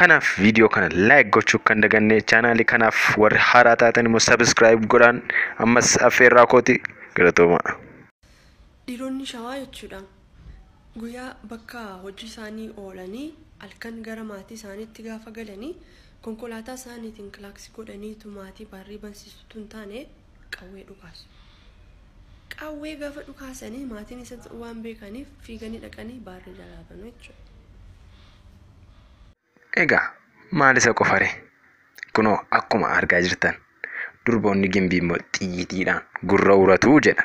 Kanaaf viidiyoo kana like gochuu kan daganne chaanaalii kanaaf warri haaraa taatan immoo subscribe godhaan ammas affeerraa kooti galatooma. Dhiironni shawaa jechuudha guyyaa bakka hojii isaanii oolanii halkan gara maatii isaaniitti gaafa galanii konkolaataa isaaniitiin kilaaksi godhaniitu maatii barrii bansiisutu hin taane qawwee dhukaasu. Qawwee gaafa dhukaasanii maatiin isa waan beekaniif fiiganii dhaqanii baarrii jalaa banu jechuudha. Egaa maal isa qofare? Kunoo akkuma argaa jirtan durboonni gimbii immoo xiyyiitiidhaan gurra uratu jedha.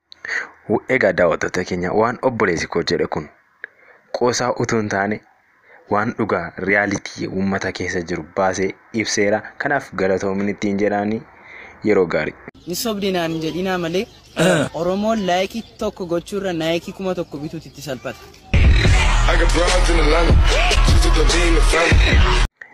W- Egaa daawwattoota keenya waan obboleessi koo jedhe kun qoosaa utuu hin taane waan dhugaa riyaalitii uummata keessa jiru baasee ibseera. Kanaaf galatoomin ittiin jedhaanii yeroo gaarii. Ni sobde naan hin jedhinaa malee Oromoon laayikii tokko gochuurra naayikii kuma tokko bituutu itti salphata. I got broads in Atlanta. Just took the lean, the family.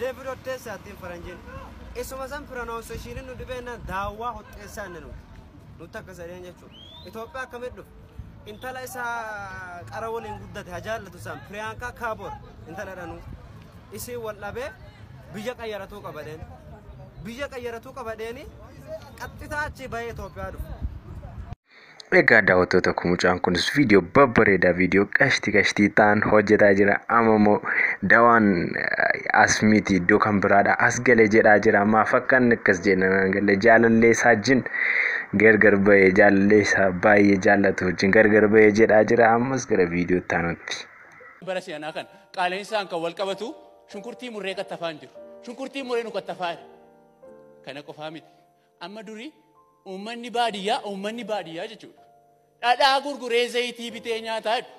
David Otteessaa ittiin faranjiin. Isuma san pronunciation nu dhibeennaan daawwaa hotteessaa inni nuti. Nuti akka sadeen jechuudha. Itoophiyaa akkamitti dhufe? Intala isaa qara waliin guddate haa jaallatu isaan Piriyaankaa Kaaboor intala dhanuu. Isiin wal dhabee biyya qayyaratuu qabadeen. Biyya qayyaratuu qabadeeni qaxxitaa achi bahee Itoophiyaa dhufe. Egaa daawwattoota koo mucaan kunis viidiyoo babbareedaa viidiyoo qashti qashtii ta'an hojjetaa jira. Amma immoo dawaan eh, as miti iddoo kan biraadha as gale jedhaa jira. Maaf akka inni akkas jedhan naan galle jaalallee isaa wajjin gargar bahee jaalallee isaa baay'ee jaallatu wajjin gargar bahee jedhaa jira. Ammas gara viidiyoo itti aanutti. bara si'anaa kan qaala'insaan kan wal qabatu shunkurtii murree qattafaan jiru. Shunkurtii murree nu qattafaa jira. Kana qofaa miti. Amma durii uummanni baadiyyaa uummanni baadiyyaa jechuudha. Dhadhaa gurguree zayitii bitee nyaataa jedhu.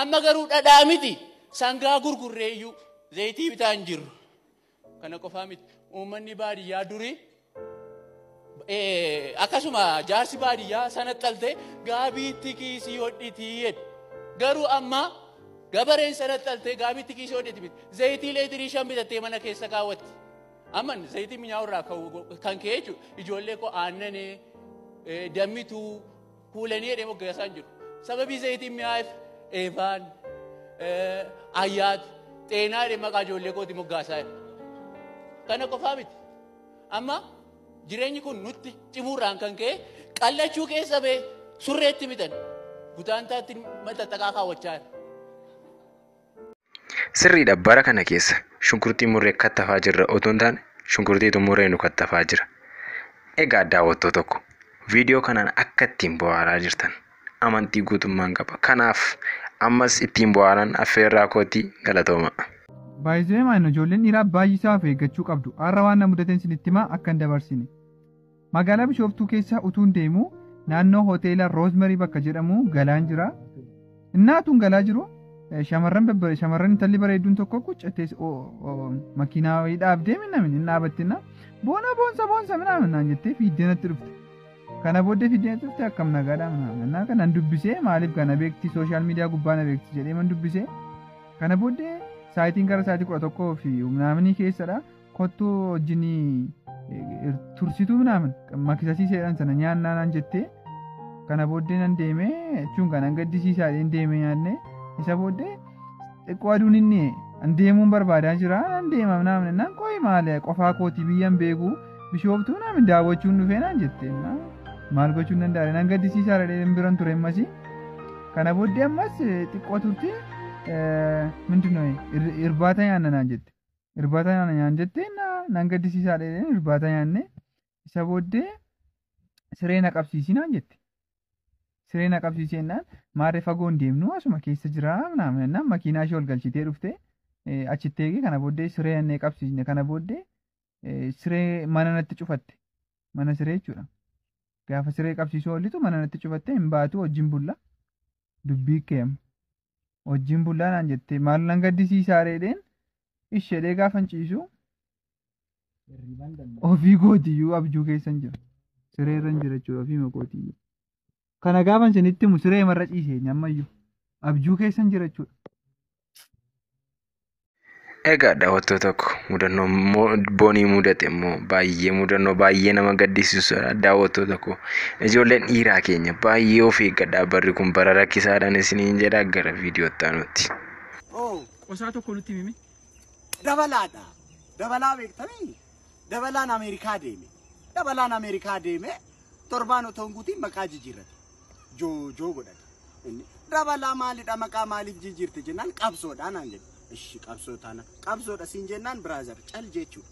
Amma garuu dhadhaa miti sangaa gurgurree iyyuu zayitii bitaa hin jirru. Kana qofaa miti uummanni baadiyyaa durii eh, akkasuma jaarsi baadiyyaa sana xaltee gaabiitti kiisii hodhitii jedhu. Garuu amma gabareen sana xaltee gaabiitti kiisii hodhiti miti. Zayitii leetirii shan bitattee mana keessa kaawwatti. Aman zayitii minyaa'u irraa kan ka'e jechuudha. Ijoollee koo aannanee, dammituu, kuulanii jedhee moggaasaan jiru. Sababii zayitiin mi'aa'eef eebaan, ayyaat, xeenaa jedhee maqaa ijoollee kooti moggaasaa jira. Kana qofaa miti. Amma jireenyi kun nutti cimuurraan kan ka'e qallachuu keessa ba'e surreetti mitan gutaantaatti maxxaxaqaa kaawwachaa jira. Sirriidha bara kana keessa shunkurtii murree kattafaa jirra otoo hin taane shunkurtiitu murree nu kattafaa jira. Egaa daawwattoo tokko viidiyoo kanaan akka ittiin bu'aaraa jirtan amantii guutummaan qaba. Kanaaf ammas ittiin bu'aaran affeerraa kootii galatooma. Baay'isee maayina ijoolleen dhiiraa baay'isaa of eeggachuu qabdu. Har'a waan na mudateen isinitti himaa akka hin dabarsine. Magaalaa Bishooftuu keessa utuun deemu naannoo hoteela Roozmarii bakka jedhamu galaan jira. Innaa utuun galaa jiru shamarran babbare shamarran intalli bareedduun tokko quccattee makiinaa wayii dhaabdee minnamin hin dhaabattinna boona boonsa boonsa minaamin naan jettee fiiddee natti dhufte. Kana booddee fiiddee natti dhufte akkam nagaadhaa minaamin innaa kanan dubbisee maaliif kana beekti sooshaal miidiyaa gubbaa na beekti jedhee man dubbisee kana booddee saayitiin gara saayitii kudha tokkoo fi minaaminii keessadha. kottu wajjin tursituu minaaman makisasii seedhan sana nyaannaa naan jettee kana booddee nan deemee jechuun kan an gaddisiisaa dheen deemee nyaanne isa booddee xiqqoo aduun hin dhiye an deemuun barbaadaa jira nan deema minaaman naan qoyi maale qofaa kooti biyyan beeku bishooftuu minaaman daawwachuun dhufee naan jette maal gochuun danda'a nan gaddisiisaa dheen biran ture ammasii kana booddee ammas xiqqoo turte mindinoo irbaata nyaanna naan jette irbaata nyaana nyaan jettee na nan gaddisiisaa dheedheen irbaata nyaanne isa booddee siree na qabsiisii naan jette. Siree na qabsiisii jennaan maarree fagoo hin deemnu asuma keessa jiraa naam jennaan makiinaa ishee ol galchitee dhufte eh, achitti eegee kana booddee siree jennee qabsiisne kana booddee eh, siree mana natti cufatte mana siree jechuudha. Gaafa siree qabsiisuu oollitu mana natti cufattee hin baatu wajjin bulla. Dubbii keem. Wajjin bullaa naan jettee maal nan gaddisiisaa reedheen ishedhee gaafan ciisu ofii gootiyyuu abjuu keessan jira. Siree irra hin jira jechuudha ofii makootiyyuu. Kana gaafan isinitti himu siree marra ciisee ammayyuu abjuu keessan jira jechuudha. Egaa daawwattoo tokko mudannoo immoo boonii mudate immoo baay'ee mudannoo baay'ee nama gaddisiisudha daawwattoo tokko ijoolleen dhiiraa keenya baay'ee of eeggadhaa barri kun bara rakkisaadhaan isiniin jedha gara viidiyoo itti aanutti. Oo, Qosaa tokko nutti himi. dabalaadha. Dabalaa beektanii? Dabalaan Ameerikaa deeme. Dabalaan Ameerikaa deeme torbaan otoo hin guutiin maqaa jijjiirrate. joojoo godhate. Inni dabalaa maalidha maqaa maaliif jijjiirte jennaan qabsoodha naan jedhe. Ishi qabsoo taana qabsoodha siin jennaan biraazar cal jechuudha.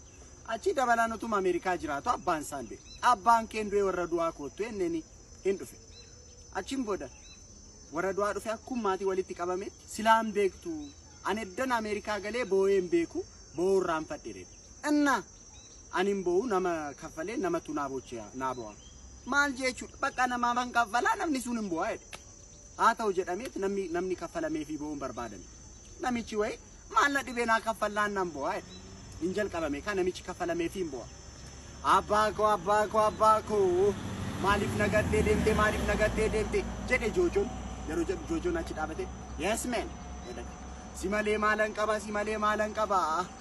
Achi dabalaan utuma Ameerikaa jiraatu abbaan isaan du'e. Abbaan keen du'e warra du'aa koottu enneni hin dhufe. Achiin booda warra du'aa dhufe akkuma maatii walitti qabametti silaan beektu. Ani eddan Ameerikaa galee boo'ee hin beeku boo'uu irraanfadhe jedhe. Inna Ani hin bo'u nama kaffalee namatu naa bochi'a naa bo'a. Maal jechuudha bakka namaafan kaffalaa namni sun hin bo'a jedhe. Haa ta'u jedhameet namni namni kaffalamee fi bo'uun barbaadame. Namichi wayi maal na dhibee naa kaffallaan nan bo'a jedhe. Hin jalqabame kaa namichi kaffalamee fi hin bo'a. Abbaa koo abbaa koo abbaa koo maaliif na gattee deemte maaliif na gattee deemte jedhe joojoon yeroo jedhu joojoon achi dhaabate yes man jedhe. Si malee maalan qaba si malee maalan qaba.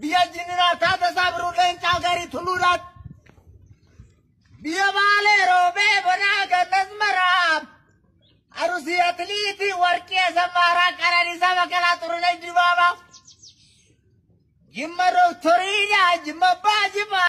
Biyya Jinniraa Taatasaa Biruu Leencaa Garii Tuluudhaan. Biyya Baalee Roobee Bonaa Gannas Maraa. Arusii Atiliitii Warqii Asaffaaraa Qananiisaa Baqqalaa Xurunesh Dibaabaa. Jimma Dooktorii Jimma Abbaa Jimmaa.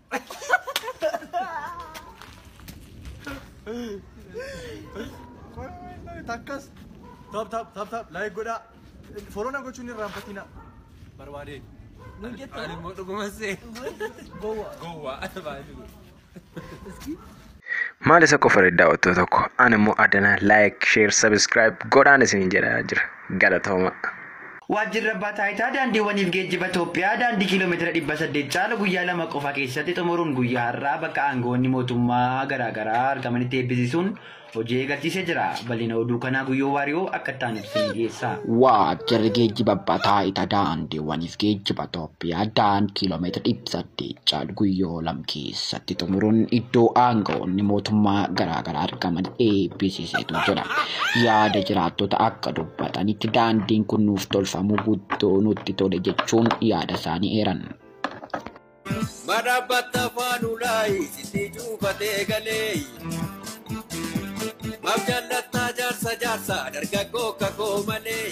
Takkas. Tap tap tap tap like godhaa. Foloona gochuun hin raanfatina. Barbaade. Ani immoo dhuguma see. Gowwa. Gowwa. Baay'ee. Maal isa qofa irratti daawwattoo tokko an immoo adana like share subscribe godhaan isin jedha jira galatooma. Waajjirri Abbaa Taayitaa Daandiiwwaniif Geejjiba Itoophiyaa daandii kiiloomeetira 800 caalu guyyaa lama qofa keessatti xumuruun guyyaa har'aa bakka aangawoonni mootummaa garaa garaa argamanitti eebbisiisuun hojii eegalchiisee jira. Bal'ina oduu kanaa Guyyoo Waariyoo akka itti aanutti isinii dhiyeessa. Waajjirri Geejjiba Abbaa Taayitaa Daandiiwwaniif Geejjiba Itoophiyaa Yaadaan kiiloomeetira 800 caalu guyyoo lam keessatti xumuruun iddoo aanga'oonni mootummaa garaagaraa argaman eebbisiiseetu jira. Yaada jiraattota akka dubbatanitti daandiin kun nuuf tolfamuu guddoo nutti tole jechuun yaada isaanii eeran. Madhabbatta faanulaayi sitti cuufatee galee. Maaf jaallattaa jaarsa jaarsa dargaggoo kakoo malee.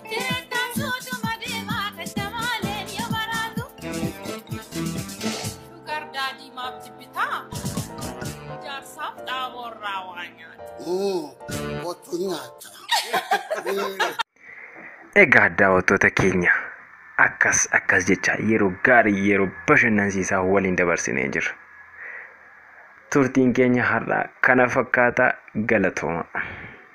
Jireenyaan suutuma deemaa gadda maaleen yoo baraatu. Shugar daadhii maaf jibbitaa? Jaarsaaf dhaaboo irraa waa nyaata. Otu nyaata. Egaa daawwattoota keenya akkas akkas jecha yeroo gaarii yeroo bashannansiisaa waliin dabarsinee jirra. Turtiin keenya har'aa kana fakkaata galatooma.